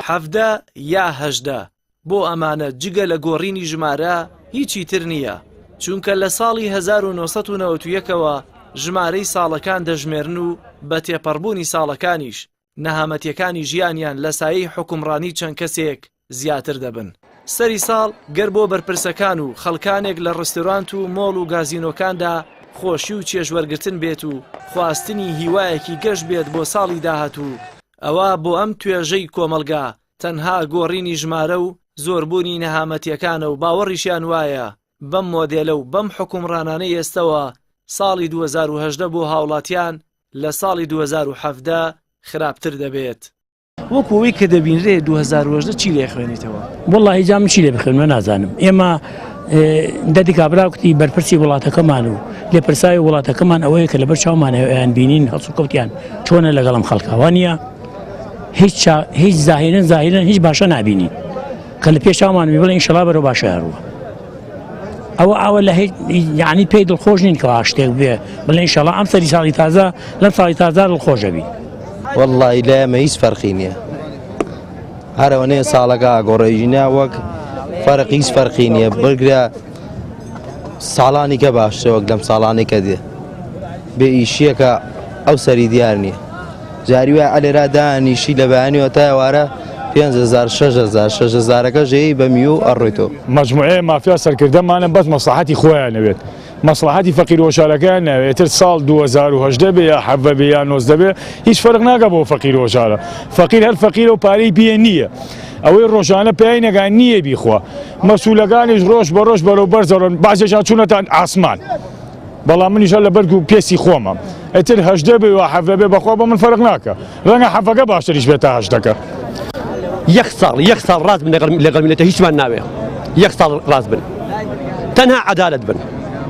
حەڤدە یا هەژدە بۆ ئەمانە جگە لە گۆڕینی ژمارە هیچی تر نییە چونکە لە ساڵی 1991ەوە ژمارەی ساڵەکان دەژمێرن و بە تێپەڕبوونی ساڵەکانیش نەهامەتیەکانی ژیانیان لە سایەی حکومڕانی چەند کەسێک زیاتر دەبن. سەری ساڵ گەر بۆ بەرپرسەکان و خەڵکانێک لە ڕستۆرانت و مۆڵ و گازینۆکاندا خۆشی و چێژ وەرگرتن بێت و خواستنی هیوایەکی گەش بێت بۆ ساڵی داهاتوو، ئەوا بۆ ئەم توێژەی کۆمەڵگا تەنها گۆڕینی ژمارە و زۆربوونی نەهامەتیەکانە و باوەڕیشیان وایە بەم مۆدێلە و بەم حوکمڕانانەی ئێستەوە ساڵی دوو هەزار و هەژدە بۆ هاوڵاتیان لە ساڵی دوو هەزار و حەڤدە خراپتر دەبێت. وەکو ئەوەی کە دەبینرێ 2010 چی لێ خوێنیتەوە وڵی جام چی لێ بخێنمە نازانم ئێمە دەدی کابراکتی بەرپرسی وڵاتەکەمان و لێ پرساوی وڵاتەکەمان ئەوەیە کە لەبەر چاومانیان بینین هەڵسو کەوتیان چۆنە لەگەڵم خەڵکاوانە هیچ هیچ زاهێنن زاهێنن هیچ باشە نبینین کە لە پێشامان بڵێ ئینشڵا بەرە باشە هەروە ئەوە ئەوە لە یعنی پێی دڵخۆش نین کە شتێک بێ بڵێ ئینشڵا ئەم سەری ساڵی تازە لەم ساڵی تازار دڵخۆشەبی وەڵڵایی لای ئێمە هیچ فەرقی نییە هەرەوەنێ ساڵەکە گۆڕێژینا وەک فەرق هیچ فەرقی نییە بگرە ساڵانی کە باشترە وەک لەم ساڵانی کە دێ بێ ئیشیەکە ئەو سەری دیار نییە جاری وای ئەلێرا دانیشی لە بەیانیەوە تاوارە 5هزار 6هزار 6هزارەکە ژەیە بە میو ئەڕۆیتۆ مجموعەیە مافیا سەرکردەمانە بەس مەساحەتی خۆیان نەوێت. مەسڵەحەتی فەقیر وهۆشارەکەیان ناوێ ئیتر ساڵ دوو هەزار و هەژدە بێ یا حەڤە بێ یا نۆزدە بێ هیچ فەرق ناکا بۆ فەقیر و هۆشارە فەقیر هەر فەقیرە و پارەی پێ نییە ئەوەی ڕۆژانە پێی نەگا نییە بیخوا مەسوولەکانیش ڕۆژ بە ڕۆژ بەرەو بەرزەڕۆن بازێکیان چوونەتان ئاسمان بەڵام منیش هەر لە بەرگ و پێستی خۆمە ئیتر هەژدە بێ و حەڤە بێ بەخوا بۆ من فەرق ناکا ڕەنگە حەڤەکە باشتریش بێت تا هەشتەکە. یەک ساڵ یەک ساڵ ڕاست بن لەگەڵ میلەتە هیچمان ناوێ یەک ساڵ ڕاست بن تەنها عەدالەت بن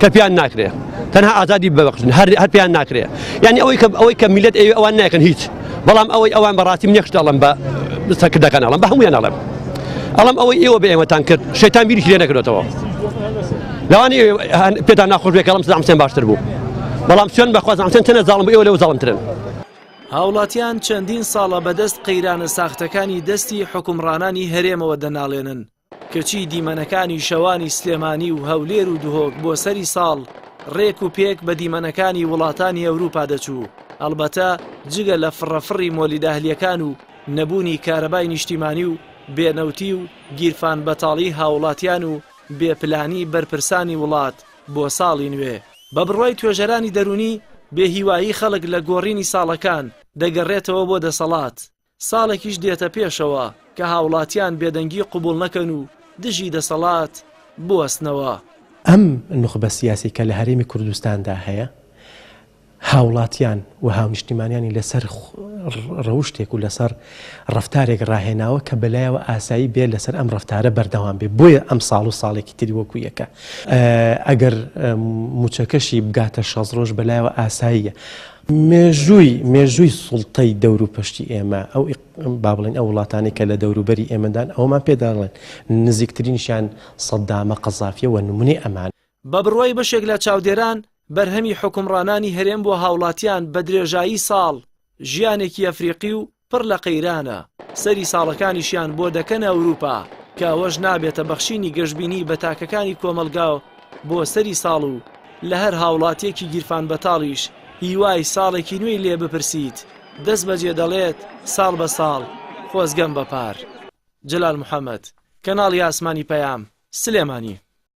کە پێیان ناکرێ تەنها ئازادی ببەخشن هەر هەر پێیان ناکرێ یعنی ئەوەی کە ئەوەی کە میلەت ئەوێ ئەوان ناکەن هیچ بەڵام ئەوەی ئەوان بەڕاستی منێکش دەڵم بە سەکردەکان ئەڵم بە هەمویان ئەڵم ئەڵم ئەوەی ئێوە بە ئێمەتان کرد شەیتان بیری لێ نەکرێتەوە لەوانی پێتان ناخۆش بێکەڵم سلام سێن باشتر بوو بەڵام سوێن بەخوازم چەند تەنە زاڵم ئێوە لەو زاڵمترن هاوڵاتیان چەندین ساڵە بەدەست قەیرانە ساختەکانی دەستی حوکمڕانانی هەرێمەوە دەناڵێنن، کەچی دیمەنەکانی شەوانی سلێمانی و هەولێر و دهۆک بۆ سەری ساڵ ڕێک و پێک بە دیمەنەکانی وڵاتانی ئەوروپا دەچوو، هەڵبەتە جگە لە فڕە فڕی مۆلیداهلیەکان و نەبوونی کارەبای نیشتیمانی و بێ نەوتی و گیرفان بەتاڵی هاوڵاتیان و بێ پلانی بەرپرسانی وڵات بۆ ساڵی نوێ. بە بڕوای توێژەرانی دەروونی، بێهیوایی خەڵک لە گۆڕینی ساڵەکان دەگەڕێتەوە بۆ دەسەڵات، ساڵێکیش دێتە پێشەوە کە هاوڵاتیان بێدەنگی قبوڵ نەکەن و دژی دەسەڵات بوەستنەوە. ئەم نوخبە سیاسیەی کە لە هەرێمی کوردستاندا هەیە، هاوڵاتیان و هاونیشتیمانیانی لەسەر ڕەوشتێک و لەسەر ڕەفتارێک ڕاهێناوە کە بەلایەوە ئاسایی بێت لەسەر ئەم ڕەفتارە بەردەوام بێت بۆیە ئەمساڵ و ساڵێکی تری وەکو یەکە ئەگەر مووچەکەشی بگاتە شەست ڕۆژ بەلایەوە ئاساییە مێژووی مێژووی سوڵتەی دەور و پشتی ئێمە ئەو با بڵێن ئەو وڵاتانی کە لە دەوروبەری ئێمەدان ئەومان پێداڵێن نزیکترینشیان سەددامە قەزافیەوە نمونی ئەمان بە بڕوای بەشێک لە چاودێران، بەرهەمی حوکمڕانانی هەرێم بۆ هاوڵاتیان بە درێژایی ساڵ ژیانێکی ئەفریقی و پڕ لە قەیرانە، سەری ساڵەکانیشیان بۆ دەکەنە ئەوروپا، کە ئەوەش نابێتە بەخشینی گەشبینی بە تاکەکانی کۆمەڵگا بۆ سەری ساڵ و لە هەر هاوڵاتیەکی گیرفانبەتاڵیش هیوای ساڵێکی نوێی لێ بپرسیت، دەستبەجێ دەڵێت ساڵ بە ساڵ خۆزگەم بە پار. جەلال محەمەد، کەناڵی ئاسمانی پەیام، سلێمانی.